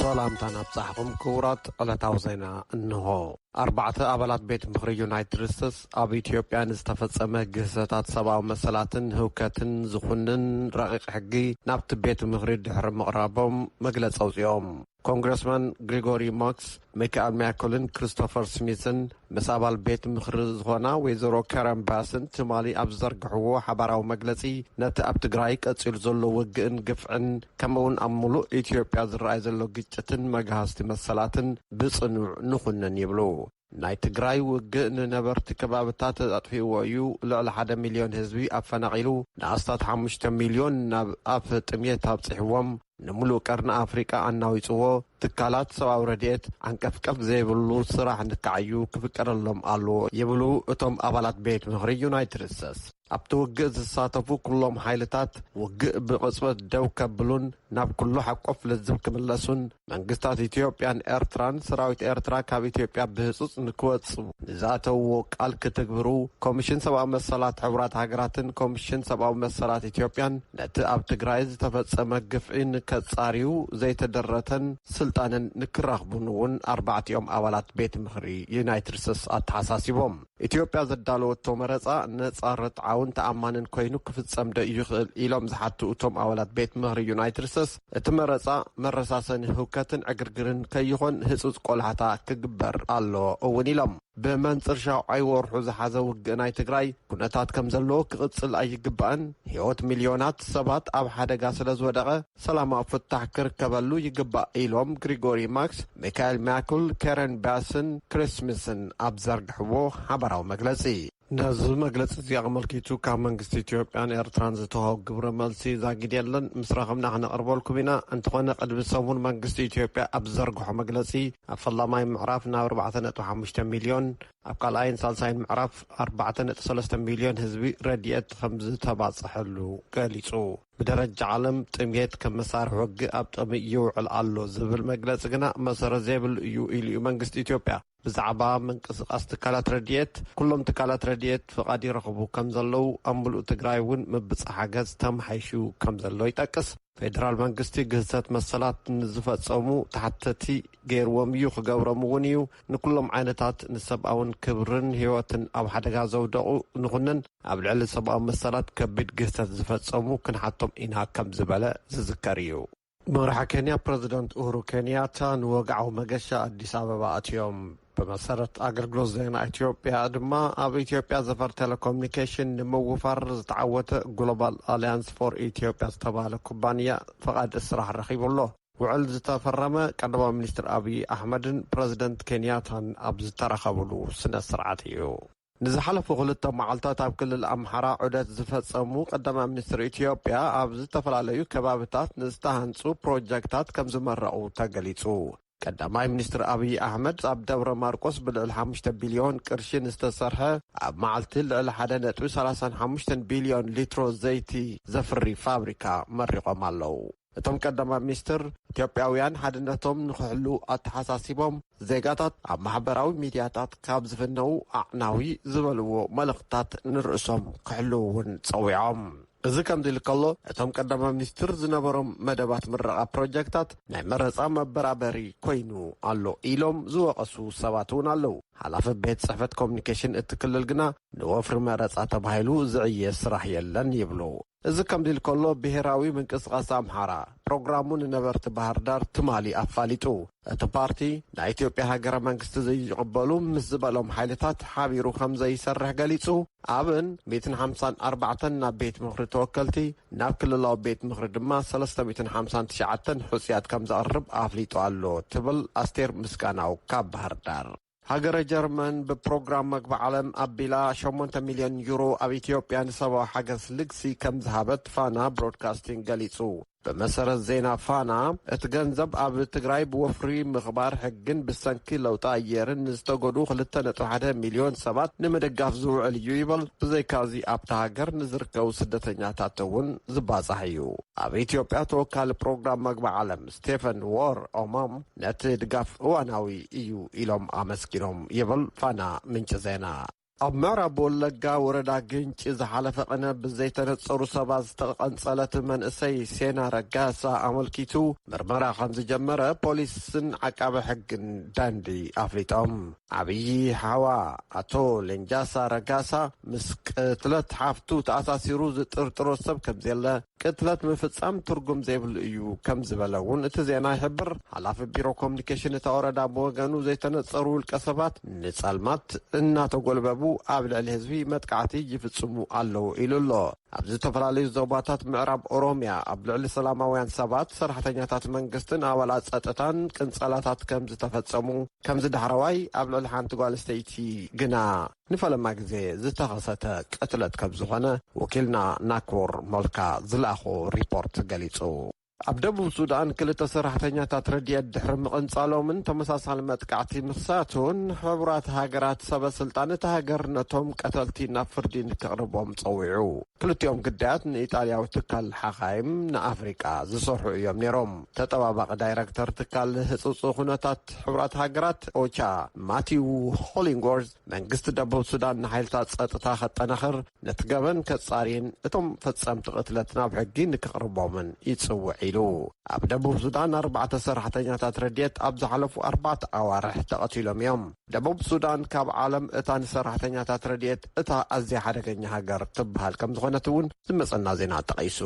ሰላምታ ናብጻሕኹም ክቡራት ዕለታዊ ዜና እንሆ ኣርባዕተ ኣባላት ቤት ምኽሪ ዩናይትድ ስቴትስ ኣብ ኢትዮጵያ ንዝተፈጸመ ግህሰታት ሰብኣዊ መሰላትን ህውከትን ዝኹንን ረቂቕ ሕጊ ናብቲ ቤት ምኽሪ ድሕሪ ምቕራቦም መግለፂ ኣውፅኦም ኮንግረስማን ግሪጎሪ ሞክስ፣ ሚካኣል ሚያኮልን ክሪስቶፈር ስሚዝን ምስ ኣባል ቤት ምኽሪ ዝኾና ወይዘሮ ካረን ባስን ትማሊ ኣብ ዝዘርግሕዎ ሓባራዊ መግለፂ ነቲ ኣብ ትግራይ ቀፂሉ ዘሎ ውግእን ግፍዕን ከምኡ እውን ኣብ ሙሉእ ኢትዮጵያ ዝረኣይ ዘሎ ግጭትን መግሃስቲ መሰላትን ብፅኑዕ ንኹንን ይብሉ። ናይ ትግራይ ውግእ ንነበርቲ ከባብታት ኣጥፊእዎ እዩ፣ ልዕሊ ሓደ ሚልዮን ህዝቢ ኣፈናቒሉ፣ ንኣስታት ሓሙሽተ ሚልዮን ናብ ኣፍ ጥምየት ኣብጺሕዎም፣ ንምሉእ ቀርኒ ኣፍሪቃ ኣናዊጽዎ፣ ትካላት ሰብኣዊ ረድኤት ዓንቀፍቀፍ ዘይብሉ ስራሕ ንክዓዩ ክፍቀደሎም ኣለዎ ይብሉ እቶም ኣባላት ቤት ምኽሪ ዩናይትድ ስተትስ። ኣብቲ ውግእ ዝሳተፉ ኩሎም ሓይልታት ውግእ ብቕጽበት ደው ከብሉን ናብ ኩሉ ሓቆፍ ልዝብ ክምለሱን መንግስታት ኢትዮጵያን ኤርትራን ሰራዊት ኤርትራ ካብ ኢትዮጵያ ብህጹጽ ንክወጽ ንዝኣተውዎ ቃል ክትግብሩ ኮሚሽን ሰብኣዊ መሰላት ሕቡራት ሃገራትን ኮሚሽን ሰብኣዊ መሰላት ኢትዮጵያን ነቲ ኣብ ትግራይ ዝተፈጸመ ግፍዒ ንከጻርዩ ዘይተደረተን ስልጣንን ንክረኽቡን እውን ኣርባዕቲኦም ኣባላት ቤት ምኽሪ ዩናይትድ ስቴትስ ኣተሓሳሲቦም። ኢትዮጵያ ዘዳለወቶ መረፃ ነፃ፣ ርትዓውን ተኣማንን ኮይኑ ክፍፀም'ዶ ይኽእል ኢሎም ዝሓቱ እቶም ኣባላት ቤት ምኽሪ ዩናይትድ ስተስ፣ እቲ መረፃ መረሳሰኒ ህውከትን ዕግርግርን ከይኾን ህፁፅ ቆላሕታ ክግበር ኣለዎ እውን ኢሎም። ብመንፅር ሻውዓይ ወርሑ ዝሓዘ ውግእ ናይ ትግራይ ኩነታት ከምዘለዎ ክቕፅል ኣይግባእን፣ ህይወት ሚልዮናት ሰባት ኣብ ሓደጋ ስለዝወደቐ፣ ሰላማዊ ፍታሕ ክርከበሉ ይግባእ ኢሎም ግሪጎሪ ማክስ፣ ሚካኤል ሚያኩል፣ ኬረን ባስን ክሪስ ስሚዝን ኣብ ዝዘርግሕዎ ሓባራዊ መግለጺ። ነዚ መግለጺ'ዚ ኣመልኪቱ ካብ መንግስቲ ኢትዮጵያን ኤርትራን ዝተዋህብ ግብረ መልሲ ዛጊድ የለን። ምስ ረኸብና ክነቕርበልኩም ኢና። እንተኾነ ቅድሚ ሰሙን መንግስቲ ኢትዮጵያ ኣብ ዝዘርግሖ መግለጺ፣ ኣብ ፈላማይ ምዕራፍ ናብ ኣርባዕተ ነጥቢ ሓሙሽተ ሚልዮን፣ ኣብ ካልኣይን ሳልሳይን ምዕራፍ ኣርባዕተ ነጥቢ ሰለስተ ሚልዮን ህዝቢ ረዲኤት ከምዝተባጽሐሉ ገሊጹ። ብደረጃ ዓለም ጥምየት ከም መሳርሒ ወግእ ኣብ ጥቕሚ ይውዕል ኣሎ ዝብል መግለፂ ግና መሰረት ዘይብሉ እዩ ኢሉ እዩ መንግስቲ ኢትዮጵያ። ብዛዕባ ምንቅስቓስ ትካላት ረድኤት፣ ኩሎም ትካላት ረድኤት ፍቓድ ይረኽቡ ከም ዘለዉ፣ ኣብ ምሉእ ትግራይ እውን ምብፃሓ ገፅ ተመሓይሹ ከም ዘሎ ይጠቅስ። ፌደራል መንግስቲ ግህሰት መሰላት ንዝፈፀሙ ተሓተቲ ገይርዎም እዩ፣ ክገብሮም እውን እዩ። ንኩሎም ዓይነታት ንሰብኣውን ክብርን ህይወትን ኣብ ሓደጋ ዘውደቑ ንኹንን ኣብ ልዕሊ ሰብኣዊ መሰላት ከቢድ ግህሰት ዝፈጸሙ ክንሓቶም ኢና ከም ዝበለ ዝዝከር እዩ። መራሒ ኬንያ ፕረዚደንት ኡሁሩ ኬንያታ ንወግዓዊ መገሻ ኣዲስ ኣበባ ኣትዮም። ብመሰረት ኣገልግሎት ዜና ኢትዮጵያ ድማ ኣብ ኢትዮጵያ ዘፈር ቴሌኮሚኒኬሽን ንምውፋር ዝተዓወተ ግሎባል ኣሊያንስ ፎር ኢትዮጵያ ዝተባህለ ኩባንያ ፍቓድ ስራሕ ረኺቡ ኣሎ። ውዕል ዝተፈረመ ቀዳማይ ሚኒስትር ኣብዪ ኣሕመድን ፕረዚደንት ኬንያታን ኣብ ዝተረኸብሉ ስነ ስርዓት እዩ። ንዝሓለፉ ክልተ መዓልታት ኣብ ክልል ኣምሓራ ዑደት ዝፈፀሙ ቀዳማይ ሚኒስትር ኢትዮጵያ ኣብ ዝተፈላለዩ ከባብታት ንዝተሃንፁ ፕሮጀክታት ከምዝመረቑ ተገሊፁ። ቀዳማይ ሚኒስትር ኣብዪ ኣሕመድ ኣብ ደብረ ማርቆስ ብልዕሊ ሓሙሽተ ቢልዮን ቅርሺ ንዝተሰርሐ ኣብ መዓልቲ ልዕሊ ሓደ ነጥቢ ሰላሳን ሓሙሽተን ቢልዮን ሊትሮ ዘይቲ ዘፍሪ ፋብሪካ መሪቖም ኣለው። እቶም ቀዳማይ ሚኒስትር፣ ኢትዮጵያውያን ሓድነቶም ንክሕልዉ ኣተሓሳሲቦም፣ ዜጋታት ኣብ ማሕበራዊ ሚድያታት ካብ ዝፍነዉ ኣዕናዊ ዝበልዎ መልእኽትታት ንርእሶም ክሕልዉ እውን ፀዊዖም። እዚ ከምዚ ኢሉ ከሎ እቶም ቀዳማይ ሚኒስትር ዝነበሮም መደባት ምረቓ ፕሮጀክታት ናይ መረፃ መበራበሪ ኮይኑ ኣሎ ኢሎም ዝወቐሱ ሰባት እውን ኣለዉ። ሓላፊ ቤት ፅሕፈት ኮሚኒኬሽን እቲ ክልል ግና ንወፍሪ መረፃ ተባሂሉ ዝዕየ ስራሕ የለን ይብሉ። እዚ ከምዚ ኢሉ ከሎ ብሄራዊ ምንቅስቓስ ኣምሓራ ፕሮግራሙ ንነበርቲ ባህርዳር ትማሊ ኣፋሊጡ። እቲ ፓርቲ ናኢትዮጵያ ሃገረ መንግስቲ ዘይቕበሉ ምስ ዝበሎም ሓይልታት ሓቢሩ ከምዘይሰርሕ ገሊፁ ኣብን ሚእትን ሓምሳን ኣርባዕተን ናብ ቤት ምኽሪ ተወከልቲ ናብ ክልላዊ ቤት ምኽሪ ድማ ሰለስተ ሚእትን ሓምሳን ትሽዓተን ሕፁያት ከምዘቕርብ ኣፍሊጡ ኣሎ ትብል ኣስቴር ምስጋናው ካብ ባህርዳር። ሃገረ ጀርመን ብፕሮግራም መግቢ ዓለም ኣቢላ ሸሞንተ ሚልዮን ዩሮ ኣብ ኢትዮጵያ ንሰብኣዊ ሓገዝ ልግሲ ከም ዝሃበት ፋና ብሮድካስቲንግ ገሊጹ። ብመሰረት ዜና ፋና፣ እቲ ገንዘብ ኣብ ትግራይ ብወፍሪ ምኽባር ሕግን ብሰንኪ ለውጢ ኣየርን ንዝተጎድኡ ክልተ ነጥቢ ሓደ ሚልዮን ሰባት ንምድጋፍ ዝውዕል እዩ ይበል። ብዘይካ'ዚ ኣብታ ሃገር ንዝርከቡ ስደተኛታት'ውን ዝባጻሕ እዩ። ኣብ ኢትዮጵያ ተወካሊ ፕሮግራም መግቢ ዓለም ስቴፈን ዎር ኦማም ነቲ ድጋፍ እዋናዊ እዩ ኢሎም ኣመስጊኖም ይብል ፋና ምንጪ ዜና። ኣብ ምዕራብ ወለጋ ወረዳ ግንጪ ዝሓለፈ ቅነ ብዘይተነፀሩ ሰባት ዝተቐንፀለት መንእሰይ ሴና ረጋሳ ኣመልኪቱ ምርመራ ከምዝጀመረ ፖሊስን ዓቃቢ ሕግን ደንዲ ኣፍሊጦም። ዓብዪ ሓዋ ኣቶ ሌንጃሳ ረጋሳ ምስ ቅትለት ሓፍቱ ተኣሳሲሩ ዝጥርጥሮ ሰብ ከምዘየለ፣ ቅትለት ምፍጻም ትርጉም ዘይብሉ እዩ ከም ዝበለ እውን እቲ ዜና ይሕብር። ሓላፊ ቢሮ ኮሙኒኬሽን እታ ወረዳ ብወገኑ ዘይተነጸሩ ውልቀ ሰባት ንጸልማት እናተጎልበቡ ኣብ ልዕሊ ህዝቢ መጥቃዕቲ ይፍጽሙ ኣለዉ ኢሉ ኣሎ። ኣብ ዝተፈላለዩ ዞባታት ምዕራብ ኦሮሚያ ኣብ ልዕሊ ሰላማውያን ሰባት፣ ሰራሕተኛታት መንግስትን ኣባላት ጸጥታን ቅንጸላታት ከም ዝተፈጸሙ፣ ከምዚ ዳሕረዋይ ኣብ ልዕሊ ሓንቲ ጓል ኣንስተይቲ ግና ንፈለማ ግዜ ዝተኸሰተ ቅትለት ከም ዝኾነ ወኪልና ናኩር ሞልካ ዝለኣኾ ሪፖርት ገሊጹ። ኣብ ደቡብ ሱዳን ክልተ ሰራሕተኛታት ረድኤት ድሕሪ ምቕንጻሎምን ተመሳሳሊ መጥቃዕቲ ምኽሳቱን ሕቡራት ሃገራት ሰበ ስልጣን እታ ሃገር ነቶም ቀተልቲ ናብ ፍርዲ ንክቕርቦም ጸዊዑ። ክልቲኦም ግዳያት ንኢጣልያዊ ትካል ሓኻይም ንኣፍሪቃ ዝሰርሑ እዮም ነይሮም። ተጠባባቒ ዳይረክተር ትካል ህጹጽ ኩነታት ሕቡራት ሃገራት ኦቻ ማቲው ሆሊንጎርዝ መንግስቲ ደቡብ ሱዳን ንሓይልታት ጸጥታ ከጠናኽር ነቲ ገበን ከጻርይን እቶም ፈጸምቲ ቅትለት ናብ ሕጊ ንክቕርቦምን ይጽውዕ ኢሉ። ኣብ ደቡብ ሱዳን ኣርባዕተ ሰራሕተኛታት ረድኤት ኣብ ዝሓለፉ ኣርባዕተ ኣዋርሕ ተቐቲሎም እዮም። ደቡብ ሱዳን ካብ ዓለም እታ ንሰራሕተኛታት ረድኤት እታ ኣዝያ ሓደገኛ ሃገር ትበሃል ከምዝኾነት እውን ዝመጸና ዜና ጠቒሱ።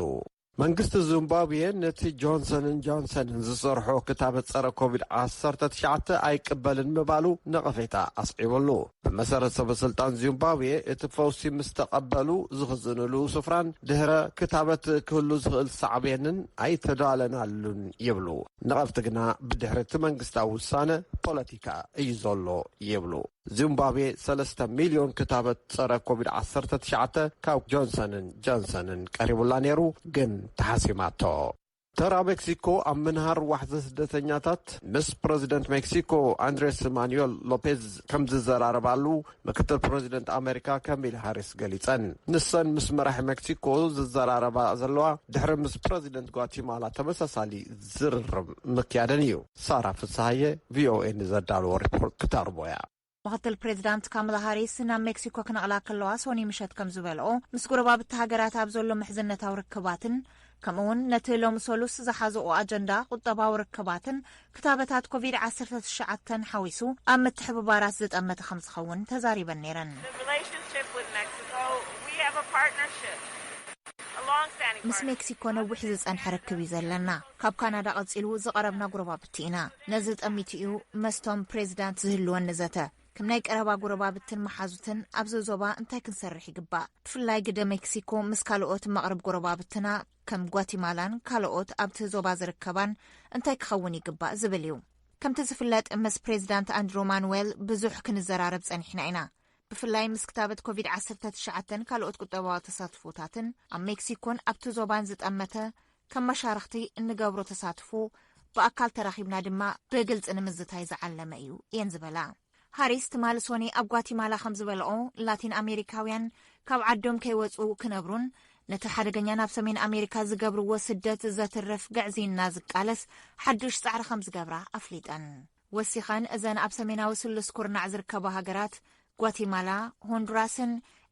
መንግስቲ ዙምባብዌ ነቲ ጆንሰንን ጆንሰንን ዝሰርሖ ክታበት ጸረ ኮቪድ ዓሰርተ ትሽዓተ ኣይቅበልን ምባሉ ነቐፌታ ኣስዒቡሉ። ብመሰረት ሰበስልጣን ዙምባብዌ እቲ ፈውሲ ምስ ተቐበሉ ዝኽዝንሉ ስፍራን ድህረ ክታበት ክህሉ ዝኽእል ሳዕቤንን ኣይተዳለናሉን ይብሉ። ነቐፍቲ ግና ብድሕሪ እቲ መንግስታዊ ውሳነ ፖለቲካ እዩ ዘሎ ይብሉ። ዚምባብዌ ሰለስተ ሚልዮን ክታበት ጸረ ኮቪድ ዓሰርተ ትሽዓተ ካብ ጆንሰንን ጀንሰንን ቀሪቡላ ነይሩ ግን ተሓሲማቶ። ተራ ሜክሲኮ ኣብ ምንሃር ዋሕዚ ስደተኛታት ምስ ፕረዚደንት ሜክሲኮ ኣንድሬስ ማኑኤል ሎፔዝ ከም ዝዘራረባሉ ምክትል ፕረዚደንት ኣመሪካ ከሚል ሃሪስ ገሊጸን። ንሰን ምስ መራሒ ሜክሲኮ ዝዘራረባ ዘለዋ ድሕሪ ምስ ፕረዚደንት ጓቲማላ ተመሳሳሊ ዝርርብ ምክያደን እዩ። ሳራ ፍስሃየ ቪኦኤ ንዘዳለዎ ሪፖርት ክተቕርቦ እያ። ምክትል ፕሬዚዳንት ካምላ ሃሪስ ናብ ሜክሲኮ ክነቕላ ከለዋ ሶኑይ ምሸት ከምዝበልኦ ምስ ጎረባብቲ ሃገራት ኣብ ዘሎ ምሕዝነታዊ ርክባትን ከምኡ እውን ነቲ ሎሚ ሰሉስ ዝሓዘኦ ኣጀንዳ ቁጠባዊ ርክባትን ክታበታት ኮቪድ ዓሰርተ ትሽዓተን ሓዊሱ ኣብ ምትሕብባራት ዝጠመተ ከምዝኸውን ተዛሪበን ነይረን። ምስ ሜክሲኮ ነዊሕ ዝፀንሐ ርክብ እዩ ዘለና። ካብ ካናዳ ቀጺሉ ዝቐረብና ጉረባብቲ ኢና። ነዚ ጠሚቱ እዩ መስቶም ፕሬዚዳንት ዝህልወኒ ዘተ። ከም ናይ ቀረባ ጉረባብትን መሓዙትን ኣብዚ ዞባ እንታይ ክንሰርሕ ይግባእ? ብፍላይ ግደ ሜክሲኮ ምስ ካልኦት መቕርብ ጎረባብትና ከም ጓቲማላን ካልኦት ኣብቲ ዞባ ዝርከባን እንታይ ክኸውን ይግባእ ዝብል እዩ። ከምቲ ዝፍለጥ ምስ ፕሬዚዳንት ኣንድሮ ማኑዌል ብዙሕ ክንዘራረብ ጸኒሕና ኢና። ብፍላይ ምስ ክታበት ኮቪድ-19ን ካልኦት ቁጠባዊ ተሳትፎታትን ኣብ ሜክሲኮን ኣብቲ ዞባን ዝጠመተ ከም መሻርኽቲ እንገብሮ ተሳትፎ ብኣካል ተራኺብና ድማ ብግልፂ ንምዝታይ ዝዓለመ እዩ እየን ዝበላ። ሃሪስ ትማሊ ሶኒ ኣብ ጓቲማላ ከም ዝበለኦ ላቲን ኣሜሪካውያን ካብ ዓዶም ከይወፁ ክነብሩን ነቲ ሓደገኛ ናብ ሰሜን ኣሜሪካ ዝገብርዎ ስደት ዘትርፍ ግዕዝይና ዝቃለስ ሓዱሽ ፃዕሪ ከም ዝገብራ ኣፍሊጠን። ወሲኸን እዘን ኣብ ሰሜናዊ ስሉስ ኩርናዕ ዝርከባ ሃገራት ጓቲማላ፣ ሆንዱራስን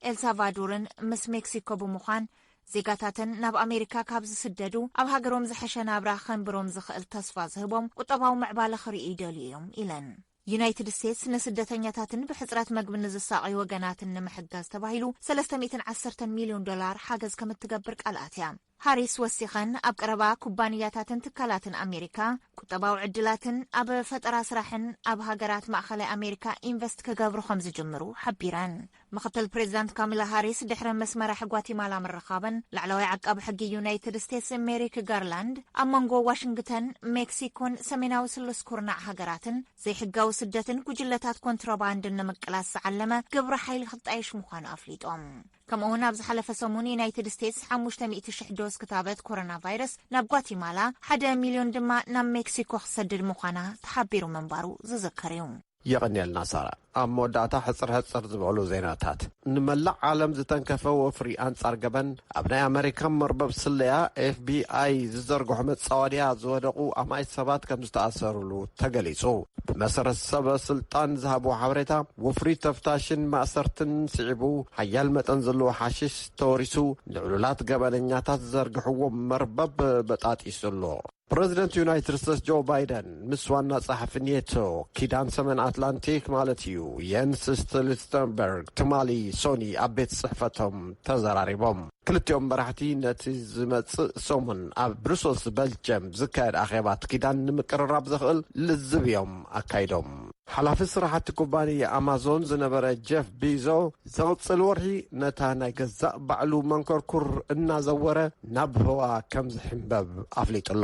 ኤልሳቫዱርን ምስ ሜክሲኮ ብምዃን ዜጋታተን ናብ ኣሜሪካ ካብ ዝስደዱ ኣብ ሃገሮም ዝሐሸ ናብራ ከንብሮም ዝኽእል ተስፋ ዝህቦም ቁጠባዊ ምዕባለ ክርእዩ ይደልዩ እዮም ኢለን። ዩናይትድ ስቴትስ ንስደተኛታትን ብሕፅረት መግቢ ንዝሳቐዩ ወገናትን ንምሕጋዝ ተባሂሉ ሰለስተ ሚእትን ዓሰርተን ሚልዮን ዶላር ሓገዝ ከም እትገብር ቃል ኣትያ። ሃሪስ ወሲኸን ኣብ ቀረባ ኩባንያታትን ትካላትን ኣሜሪካ ቁጠባዊ ዕድላትን ኣብ ፈጠራ ስራሕን ኣብ ሃገራት ማእኸላይ ኣሜሪካ ኢንቨስት ክገብሩ ከምዝጅምሩ ሓቢረን። ምኽትል ፕሬዚዳንት ካሚላ ሃሪስ ድሕሪ ምስ መራሒ ጓቲማላ ምርኻበን ላዕለዋይ ዓቃቢ ሕጊ ዩናይትድ ስቴትስ ሜሪክ ጋርላንድ ኣብ መንጎ ዋሽንግተን፣ ሜክሲኮን ሰሜናዊ ስሉስ ኩርናዕ ሃገራትን ዘይሕጋዊ ስደትን ጉጅለታት ኮንትሮባንድን ንምቅላስ ዝዓለመ ግብረ ሓይሊ ክጣየሽ ምዃኑ ኣፍሊጦም። ከምኡ'ውን ኣብ ዝሓለፈ ሰሙን ዩናይትድ ስቴትስ ሓሙሽተ ሚእቲ ሽሕ ዶዝ ክታበት ኮሮና ቫይረስ ናብ ጓቲማላ፣ ሓደ ሚልዮን ድማ ናብ ሜክሲኮ ክትሰድድ ምዃና ተሓቢሩ ምንባሩ ዝዝከር እዩ። የቐንየልና ሳራ። ኣብ መወዳእታ ሕጽር ሕጽር ዝበሉ ዜናታት። ንመላእ ዓለም ዝተንከፈ ወፍሪ ኣንጻር ገበን ኣብ ናይ ኣመሪካ መርበብ ስለያ FBI ዝዘርግሖ መጻወድያ ዝወደቑ ኣማኢት ሰባት ከም ዝተኣሰርሉ ተገሊጹ። ብመሰረት ሰበ ስልጣን ዝሃብዎ ሓበሬታ ወፍሪ ተፍታሽን ማእሰርትን ስዒቡ ሓያል መጠን ዘለዎ ሓሽሽ ተወሪሱ ንዕሉላት ገበነኛታት ዝዘርግሕዎ መርበብ በጣጢሱ ኣሎ። ፕረዚደንት ዩናይትድ ስቴትስ ጆ ባይደን ምስ ዋና ጸሓፊ ኔቶ ኪዳን ሰሜን ኣትላንቲክ ማለት እዩ የንስ ስቶልስተንበርግ ትማሊ ሶኒ ኣብ ቤት ጽሕፈቶም ተዘራሪቦም። ክልቲኦም መራሕቲ ነቲ ዝመጽእ ሰሙን ኣብ ብሩሰልስ በልጅየም ዝካየድ ኣኼባት ኪዳን ንምቅርራብ ዘኽእል ልዝብ እዮም ኣካይዶም። ሓላፊ ስራሕቲ ኩባንያ ኣማዞን ዝነበረ ጀፍ ቢዞ፣ ዝቕጽል ወርሒ ነታ ናይ ገዛእ ባዕሉ መንኮርኩር እናዘወረ ናብ ህዋ ከም ዝሕምበብ ኣፍሊጡ'ሎ።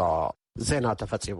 ዜና ተፈጺሙ።